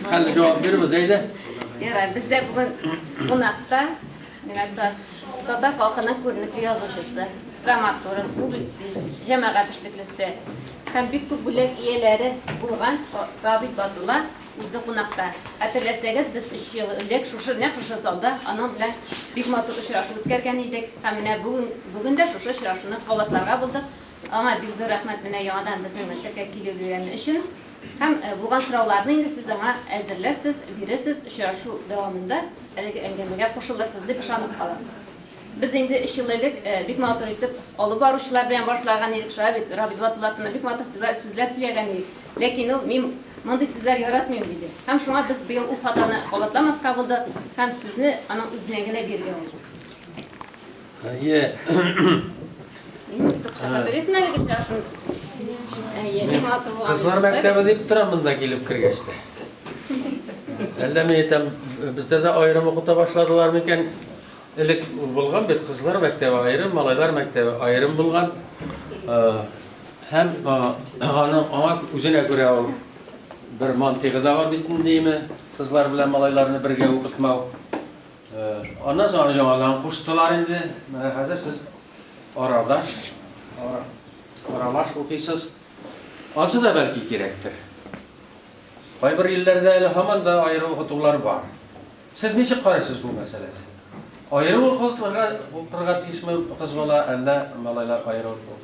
Хәлле җавап бирбез, әйдә. Ярар, бездә бүген кунакта менә татар халкының күренекле язучысы, драматург, публицист, җәмәгать эшлеклесе һәм бик күп бүләк ияләре булган Габит Батулла үзе кунакта. Хәтерләсәгез, без 3 ел элек шушы нәкъ шушы залда аның белән бик матур очрашу үткәргән идек. Һәм менә бүген бүген дә шушы очрашуны кабатларга булдык. Аңа бик зур рәхмәт менә яңадан безнең мәктәпкә килүе өчен. Һәм булган сорауларны инде сез аңа әзерләрсез, бирерсез, очрашу дәвамында әлеге әңгәмәгә кушылырсыз дип ышанып калам. Без инде өч ел элек бик матур итеп алып баручылар белән башлаган идек, шулай бит, Рабит Батуллатовна бик матур сүзләр сөйләгән идек, ләкин ул мин мондый сүзләр яратмыйм диде. Һәм шуңа без быел ул хатаны кабатламаска булдык һәм сүзне аның үзенә генә бирергә булдык. Әйе. Белесең әле дип яшмис. Әйе, мин матур булам. Кызлар мәктәбе дип тора монда килеп кергәч тә. Әллә мин әйтәм, бездә дә аерым укыта башладылар микән? Элек булган бит кызлар мәктәбе аерым, малайлар мәктәбе аерым булган. Һәм аны аңа үзенә күрә ул бер мантыйгы да бар бит инде, кызлар белән малайларны бергә укытмау. Аннан соң аны яңадан куштылар инде. Менә хәзер сез арадаш, аралаш укыйсыз. Ансы да бәлки кирәктер. Кайбер илләрдә әле һаман да аерым укытулар бар. Сез ничек карыйсыз бу мәсьәләне? Аерым укытырга тиешме кыз бала, әллә малайлар аерым?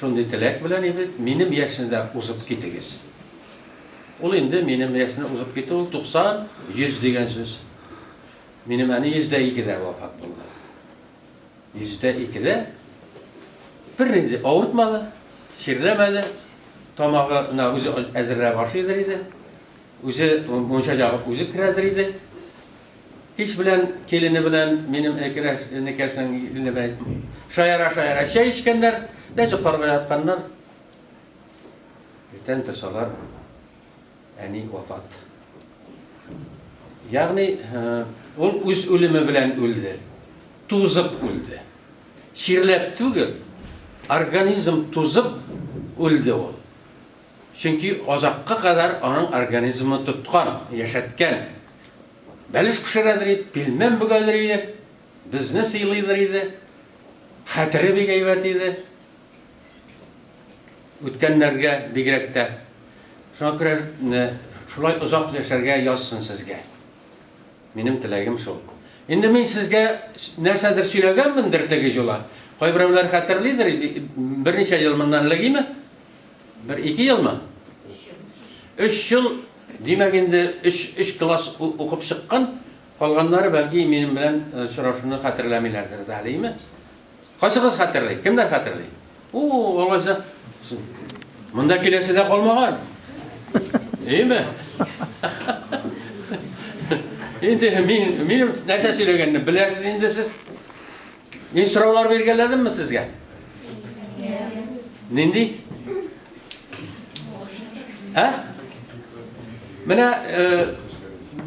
Шундый теләк белән иде, минем яшьне дә узып китегез. Ул инде минем яшьне узып китү ул 90, 100 дигән сүз. Минем әни 102 дә вафат булды. 102 дә бер инде авыртмады, чирләмәде, тамагына үзе әзерләп ашыйдыр иде, үзе мунча ягып үзе керәдер иде. Кич белән килене белән минем әкрәш энекәшнең иленә бәйләп, шаяра-шаяра чәй эчкәннәр дә йокларга ятканнар. Иртән торсалар, әни вафат. Ягъни, ул үз үлеме белән үлде, тузып үлде. Чирләп түгел, организм тузып үлде ул. Чөнки азакка кадәр аның организмы тоткан, яшәткән. Бәлеш пешерәдер иде, пилмән бөгәдер иде, безне сыйлыйдыр иде. Хәтере бик әйбәт иде. Үткәннәргә бигрәк тә. Шуңа күрә шулай озак яшәргә язсын сезгә. Минем теләгем шул. Инде мин сезгә нәрсәдер сөйләгәнмендер теге юла. Кайберәүләр хәтерлидер, берничә ел моннан элегиме, Бер ике елмы? Өч ел, димәк инде өч класс укып чыккан, калганнары бәлки минем белән очрашуны хәтерләмиләрдер дә әлеме? Кайсыгыз хәтерли? Кемнәр хәтерли? О, алайса монда киләсе дә калмаган. Әйме? Инде мин минем нәрсә сөйләгәнне беләсез инде сез. Мин сораулар биргәләдемме сезгә? Нинди? Ә? Менә э,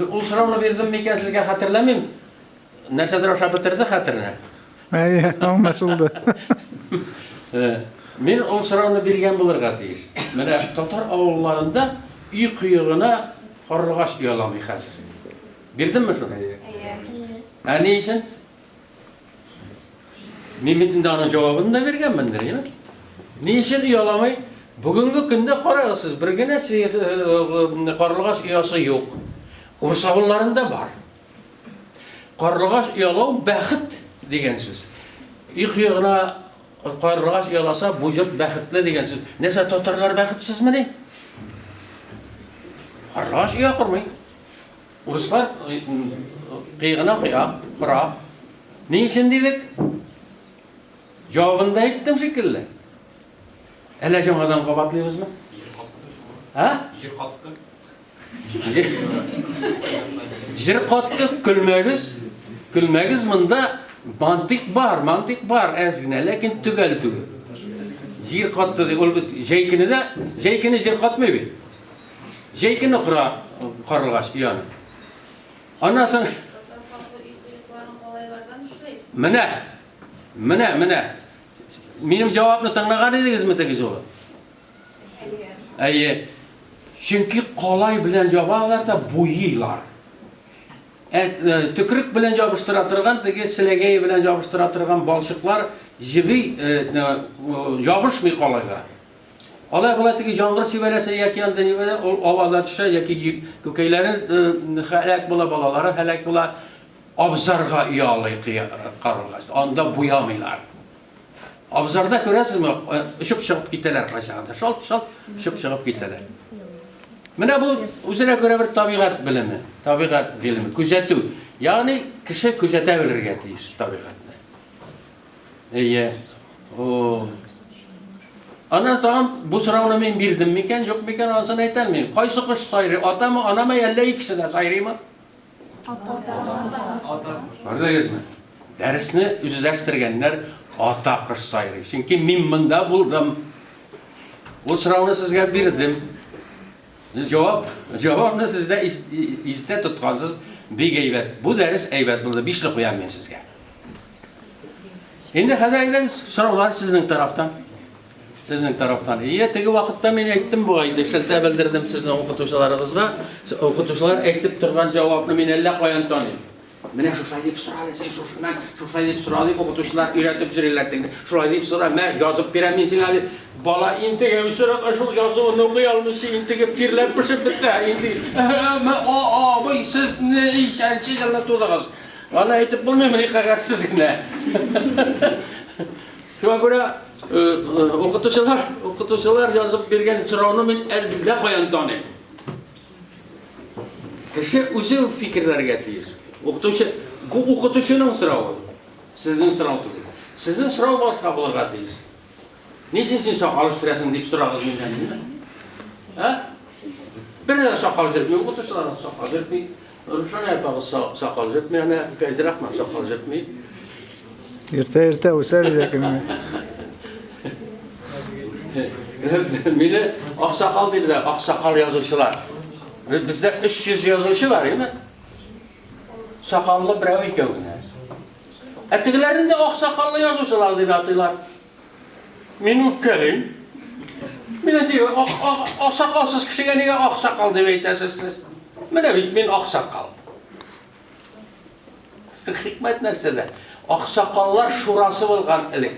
ул сорауны бирдем микән сезгә хәтерләмим. Нәрсәдер аша бетерде хәтеренә. Әйе, аңлашылды. Э, мин ул сорауны биргән булырга тиеш. Менә татар авылларында өй кыегына карлыгач ояламый хәзер. Бирдемме шуны? Әйе. Ә ни өчен? Мин бит инде аның җавабын да биргәнмендер, я? Ни өчен ояламый? Бүгенге көндә карагыз сез, бер генә карлыгач оясы юк. Урыс авылларында бар. Карлыгач оялау бәхет дигән сүз. Ик ягына карлыгач ояласа, бу җорт бәхетле дигән сүз. Нәрсә татарлар бәхетсезмени? Карлыгач оя кормый. Урыслар кыегына коя кора. Ни өчен дидек? Җавабында әйттем шикелле. Әллә яңадан кабатлыйбызмы? Ә? Җир катты. Җир катты, көлмәгез. Көлмәгез монда мантык бар, мантык бар, әз генә, ләкин төгәл түгел. Җир катты ди, ул бит җәйкене дә, җәйкене җир катмый бит. Җәй көне кора карлыгач ояны. Аннан соң Менә. Менә, менә. Минем җавапны тыңлаган идегезме теге жолы? Әйе. Чөнки калай белән ябалар да буйлар. Ә, ә, төкрек белән ябыштыра торган теге селәгәй белән ябыштыра торган балчыклар җиби ә, ябышмый калайга. Алай-болай теге яңгыр сибәләсә яки анда нибәлә ул аваза төшә яки күкәйләре хәләк була, балалары хәләк була. Абзарга ялый карылгач, анда буямыйлар. Абзарда күрәсезме, очып чыгып китәләр кайчагында. Шалт-шалт очып чыгып китәләр. Менә бу үзенә күрә бер табигать белеме, табигать гыйлеме, күзәтү. Ягъни кеше күзәтә белергә тиеш табигатьне. Әйе. О. Ана тагын бу сорауны мин бирдем микән, юк микән, анысын әйтә алмыйм. Кайсы кош сайрый? Атамы, анамы, әллә икесе дә сайрыймы? Ата. Ата. Күрдегезме? Дәресне үзләштергәннәр ата кош сайрый. Чөнки мин монда булдым. Ул сорауны сезгә бирдем. Җавап, җавабны сез дә истә тоткансыз, бик әйбәт. Бу дәрес әйбәт булды, бишле куям мин сезгә. Инде хәзер әйдәгез, сораулар сезнең тарафтан. Сезнең тарафтан. Ие, теге вакытта мин әйттем бу айды, шелтә белдердем сезнең укытучыларыгызга. Укытучылар әйтеп торган җавапны мин әллә каян таныйм. Менә шушай дип сора әле син шушыннан, шушай дип сора дип укытучылар өйрәтеп йөриләр теге. Шулай дип сора, мә, язып бирәм мин сиңа дип. Бала интегеп сораган шул язуын укый алмыйча интегеп тирләп пешеп бетә. Инде мә, а, абый, сез не исәнче елны тудыгыз. Аны әйтеп булмыймыни кәгазьсез генә. Шуңа күрә укытучылар, укытучылар язып биргән сорауны мин әллә каян таныйм. Кеше үзе үк фикерләргә тиеш. Укытучы, бу укытучының соравы, сезнең сорау түгел. Сезнең сорау башка булырга тиеш. Ничек син сакал үстерәсең дип сорагыз миннән, димме? Ә? Берәр сакал җөртми, укытучылар сакал җөртми. Рушания апа сакал җөртми, әнә Фәйзрахман сакал җөртми. Иртә иртә үсәр иде кем. Мине аксакал диләр, аксакал язучылар. Бездә 300 язучы бар, яме? Сакаллы берәү икәү генә. Ә тегеләрен дә аксакаллы язучылар дип атыйлар. Мин үпкәлим. Мин әйтим, аксакалсыз кешегә нигә аксакал дип әйтәсез сез? Менә бит мин аксакал. Хикмәт нәрсәдә? Аксакаллар шурасы булган элек.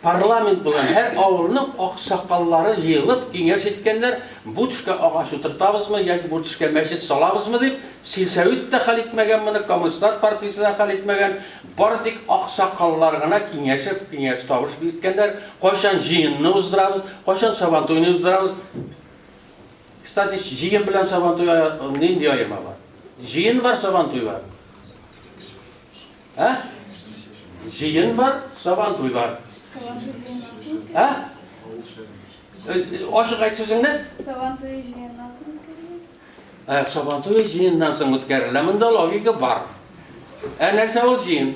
Парламент булган һәр авылның аксакаллары җыелып киңәш иткәннәр, бу төшкә агач утыртабызмы яки бу төшкә мәчет салабызмы дип, сельсовет та хәл итмәгән моны, коммунистлар партиясе дә хәл итмәгән, бары тик аксакаллар гына киңәшеп, киңәш табышып иткәннәр, кайчан җыенны уздырабыз, кайчан сабантуйны уздырабыз. Кстати, җыен белән сабантуй нинди аерма бар? Җыен бар, сабантуй бар. Ә? Җыен бар, сабантуй бар. Ә? Ашык айт сүзеңне. Сабантуй җыеннан соң үткәрелә. Ә, сабантуй җыеннан соң үткәрелә. Монда логика бар. Ә нәрсә ул җыен?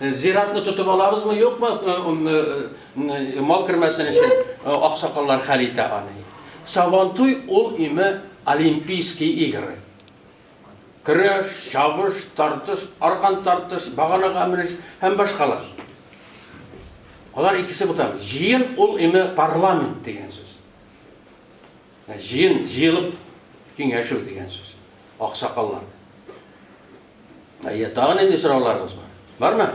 Зиратны тотып алабызмы, юкмы, мал кермәсен өчен аксакаллар хәл итә аны. Сабантуй ул име олимпийский игры. Көрәш, чабыш, тартыш, аркан тартыш, баганага менеш һәм башкалар. Алар икесе бутан. Җыен ул име парламент дигән сүз. Җыен, җыелып киңәшү дигән сүз. Аксакаллар. Әйе, тагы нинди сорауларыгыз бар? Бармы?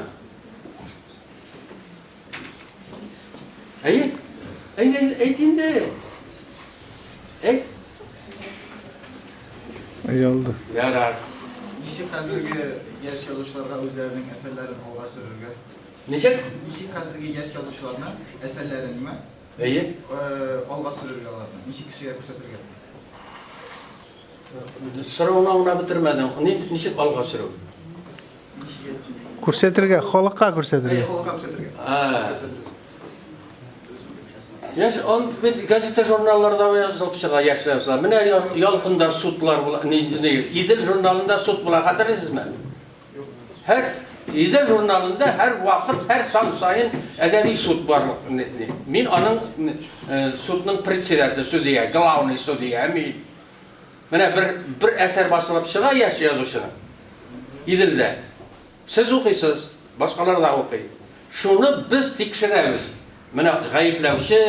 Әйе? Әйе, әйт инде. Әйт. Аялды. Ярар. Ничек хәзерге яшь язучыларга үзләренең әсәрләрен алга сөрергә? Ничек? Ничек хәзерге яшь язучыларны әсәрләрен ме? Әйе. Э, алга сөрергә аларны. Ничек кешегә күрсәтергә? Сорауны аңлап бетермәдем. Ни, ничек алга сөрү? Күрсәтергә, халыкка күрсәтергә. Халыкка күрсәтергә. Яш, он бит газета журналларда язылып чыга яшьләр яза. Менә ялкында судлар була, ни, ни, Идел журналында суд була, хәтерлисезме? Һәр Илдә журналында һәр вакыт, һәр сан саен әдәби суд бар. Мин аның э, судның председателе, судья, главный судья. Мин менә бер бер әсәр басылып чыга яшь язучының. Иделдә. Сез укыйсыз, башкалар да укый. Шуны без тикшерәбез. Менә гаепләүче,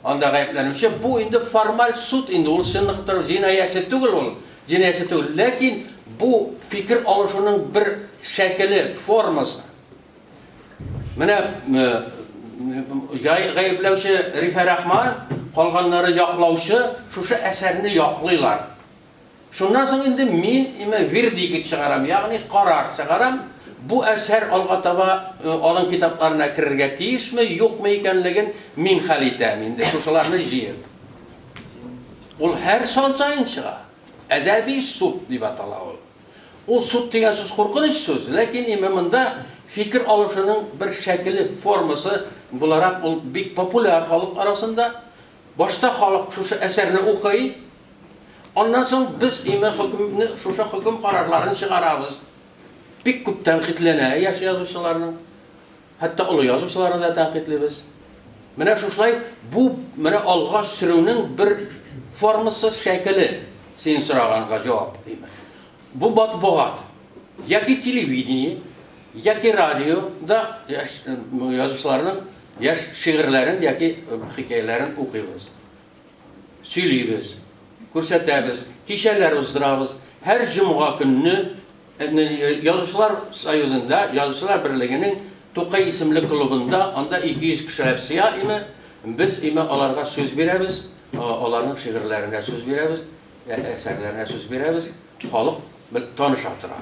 анда гаепләнүче, бу инде формаль суд инде, ул чынлыктыр җинаятьче түгел ул. Җенаясе түгел, ләкин бу фикер алышуның бер шәкеле, формасы. Менә гаепләүче Рифә Рахман, калганнары яклаучы шушы әсәрне яклыйлар. Шуннан соң инде мин имә вердикт чыгарам, ягъни карар чыгарам, бу әсәр алга таба алын китапларына керергә тиешме, юкмы икәнлеген мин хәл итәм инде, шушыларны җыеп. Ул һәр сан саен чыга. Әдәби суд дип атала ул. Ул суд дигән сүз куркыныч сүз, ләкин ИММда фикер алышуның бер шәкеле, формасы буларак ул бик популяр халык арасында. Башта халык шушы әсәрне укый, аннан соң без ИМ хөкемне, шушы хөкем карарларын чыгарабыз. Бик күп тәнкыйтьләнә яшь язучыларның. Хәтта олы язучыларны да тәнкыйтьлибез. Менә шушылай бу менә алга сөрүнең бер формасы шәкеле, синең сораганга җавап димәк. Бу матбугат яки телевидение, яки радио да яшь язучыларның яшь шигырьләрен яки хикәяләрен укыйбыз. Сөйлибез, күрсәтәбез, кичәләр уздырабыз. Һәр җомга көнне Язучылар союзында, Язучылар берлегенең Тукай исемле клубында, анда 200 кешеләп сыя име, без име аларга сүз бирәбез, аларның шигырьләренә сүз бирәбез, әсәрләренә сүз бирәбез, халык таныша тора.